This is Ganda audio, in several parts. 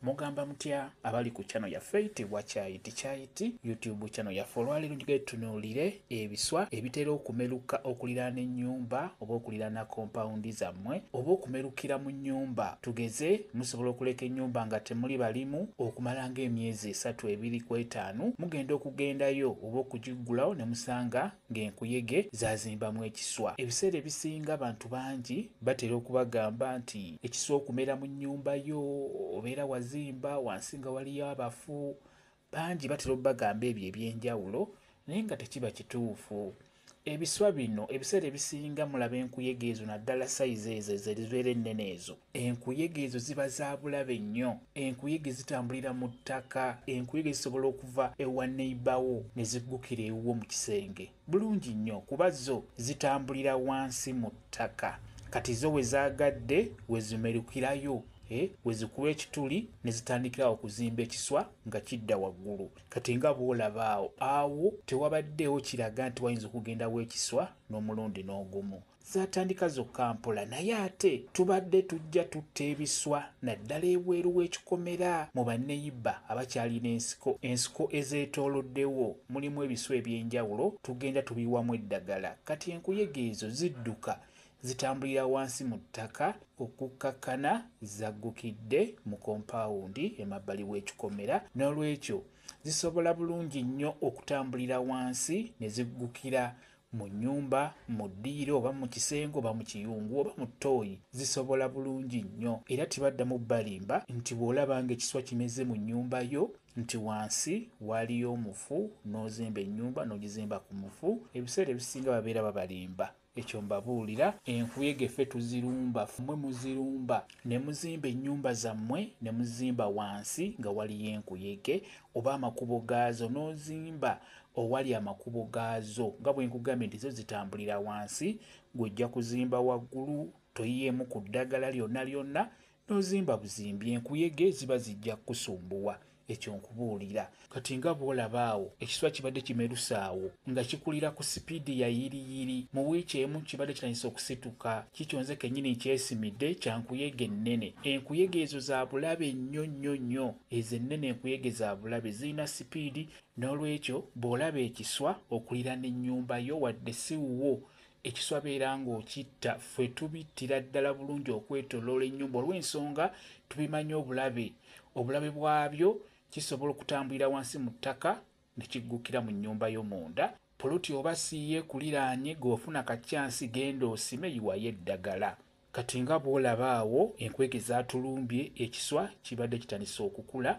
Mugamba mutya abali ku channel yaffe tebwa kyayiti kyayiti YouTube channel yaffe olwaleero njogere tutunuulire ebiswa ebitera okumeruka okuliraana ennyumba oba okuliraana kompawundi zammwe oba okumerukira mu nnyumba tugeze musobola okuleka ennyumba nga temuli balimu okumala ng'emyezi esatu ebiri ku etaano mugenda okugendayo oba okugiggulawo ne musanga ng'enkuyege zaazimbamu ekiswa. Ebiseera ebisinga abantu bangi batera okubagamba nti ekiswa okumera mu nnyumba yo obeera wazimba wansi nga waliyo abafu. Bangi batera okubagamba ebyo eby'enjawulo naye nga tekiba kituufu. Ebiswa bino ebiseera ebisinga mulaba enkuyege ezo naddala sayizi ezo ezo ezibeera ennene ezo Enkuyege ezo ziba za bulabe nnyo. Enkuyege zitambulira mu ttaka. Enkuyege zisobola okuva ewa neyiba wo ne ziggukira ewuwo mu kisenge. Bulungi nnyo kuba zo zitambulira wansi mu ttaka. Kati zo we zaagadde we zimerukirayo eh, we zikuba ekituli ne zitandikira awo okuzimba ekiswa nga kidda waggulu. Kati nga bw'olaba awo, awo tewabaddeewo kiraga nti wayinza okugendawo ekiswa n'omulundi n'ogumu. zaatandika zokka mpola naye ate tubadde tujja tutta ebiswa naddala ebweru w'ekikomera mu banneyiba abakyalina ensiko ensiko ezeetooloddewo mulimu ebiswa eby'enjawulo tugenda tubiwamu eddagala kati enkuyege ezo zidduka zitambulira wansi mu ttaka okukkakkana zaggukidde mu kompaawundi emabbali w'ekikomera n'olwekyo zisobola bulungi nnyo okutambulira wansi ne ziggukira mu nnyumba, mu ddiiro oba mu kisenge oba mu kiyungu oba mu ttooyi zisobola bulungi nnyo era tebaddamu balimba nti bw'olaba ng'ekiswa kimeze mu nnyumba yo nti wansi waaliyo omufu n'ozimba ennyumba n'ogizimba ku mufu ebiseera ebisinga babeera babalimba ekyo mbabuulira enkuyege ffe tuzirumba mmwe muzirumba ne muzimba ennyumba zammwe ne muzimba wansi nga waliyo enkuyege oba amakubo gaazo n'ozimba owali amakubo gaazo nga bwe nkugambye nti zo zitambulira wansi gw'ojja kuzimba waggulu toyiyeemu ku ddagala lyonna lyonna n'ozimba buzimbi enkuyege ziba zijja kukusumbuwa ekyo nkubuulira kati nga bw'olaba awo ekiswa kibadde kimerusaawo nga kikulira ku sipiidi ya yiriyiri mu wiiki emu kibadde kitandisa okusituka kikyonze kennyini nkyesimidde kya nkuyege ennene enkuyege ezo za bulabe nnyo nnyo nnyo ezo ennene enkuyege za bulabe zirina sipiidi N'olwekyo bw'olaba ekiswa okuliraana ennyumba yo wadde si wuwo, ekiswa beera ng'okitta. Ffe tubittira ddala bulungi okwetooloola ennyumba olw'ensonga tubimanyi obulabe obulabe bwabyo kisobola okutambulira wansi mu ttaka ne kiggukira mu nnyumba yo munda Poloti oba siye kuliraanye g'ofuna ka chance genda osime yiwayo eddagala. Kati nga bwolaba awo enkwege zatulumbye ekiswa kibadde kitandise okukula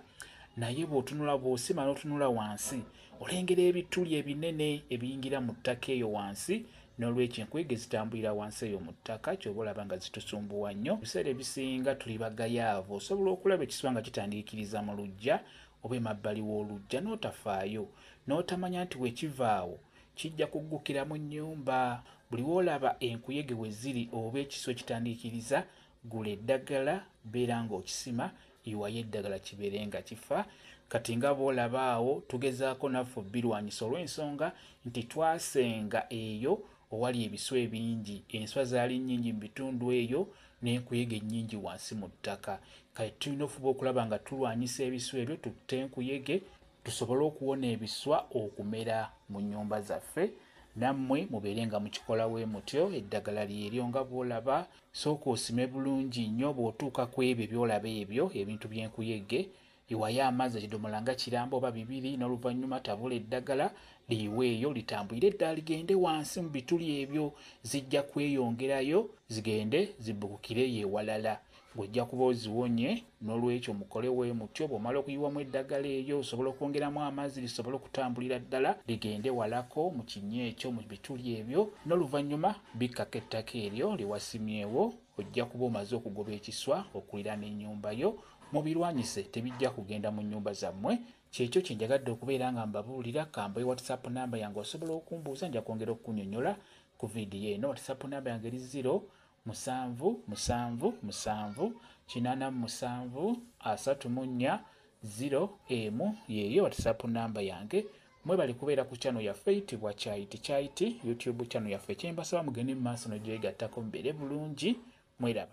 naye bwotunula bwosima notunula wansi olengera ebituli ebinene ebiyingira mu ttaka eyo wansi nolwekyo enkwege zitambulira wansi eyo mu ttaka kyoba olaba nga zitusumbuwa nnyo ebiseera ebisinga tuli bagayaavu osobola okulaba ekiswa nga kitandiikiriza mu lujja oba emabbali w'oluggya n'otafaayo, n'otamanya nti bwe kiva awo kijja kuggukira mu nnyumba. Buli w'olaba enkuyege we ziri oba ekisu ekitandiikiriza, gula eddagala, beera ng'okisima, yiwayo eddagala kibeere nga kifa. Kati nga bw'olaba awo, tugezaako naffe obbirwanyisa olw'ensonga nti twasenga eyo owali ebiswa ebingi. Enswa zaali nnyingi mu bitundu eyo n'enkuyege nnyingi wansi mu ttaka. Kati tulina ofuba okulaba nga tulwanyisa ebiswa ebyo tutte enkuyege tusobole okuwona ebiswa okumera mu nnyumba zaffe. Nammwe mubeere nga mukikola bwe mutyo. Eddagala lyeryo nga bw'olaba. Sooka osime bulungi nnyo bw'otuuka ku ebyo by'olaba ebyo ebintu by'enkuyege Yiwayo amazzi ekidomola nga kiramba oba bibiri n'oluvannyuma tabula eddagala liyiweeyo litambulire ddala ligende wansi mu bituli ebyo zijja kweyongerayo zigende zibbukukireyo ewalala ng'ojja kuba oziwonye n'olwekyo mukole we mutyo bw'omala okuyiwamu eddagala eryo osobola okwongeramu amazzi lisobole okutambulira ddala ligende walako mu kinnya ekyo mu bituli ebyo n'oluvannyuma bikkako ettaka eryo lye wasimyewo ojja kuba omaze okugoba ekiswa okuliraana ennyumba yo Mubirwanyise tebijja kugenda mu nnyumba zammwe. Kyekyo kye njagadde okubeera nga mbabuulira. Ka mbawe WhatsApp nnamba yange osobola okumbuuza nja kwongera okukunyonyola ku vidiyo eno. WhatsApp nnamba yange eri ziro musanvu musanvu musanvu kinaana mu musanvu asatu mu nnya ziro emu yeeyo WhatsApp nnamba yange. Mwebale kubeera ku channel yaffe eyitibwa Kyayiti Kyayiti YouTube channel yaffe. Kye mbasaba mugende mu maaso n'ogyegattako mubeere bulungi. Mweraba.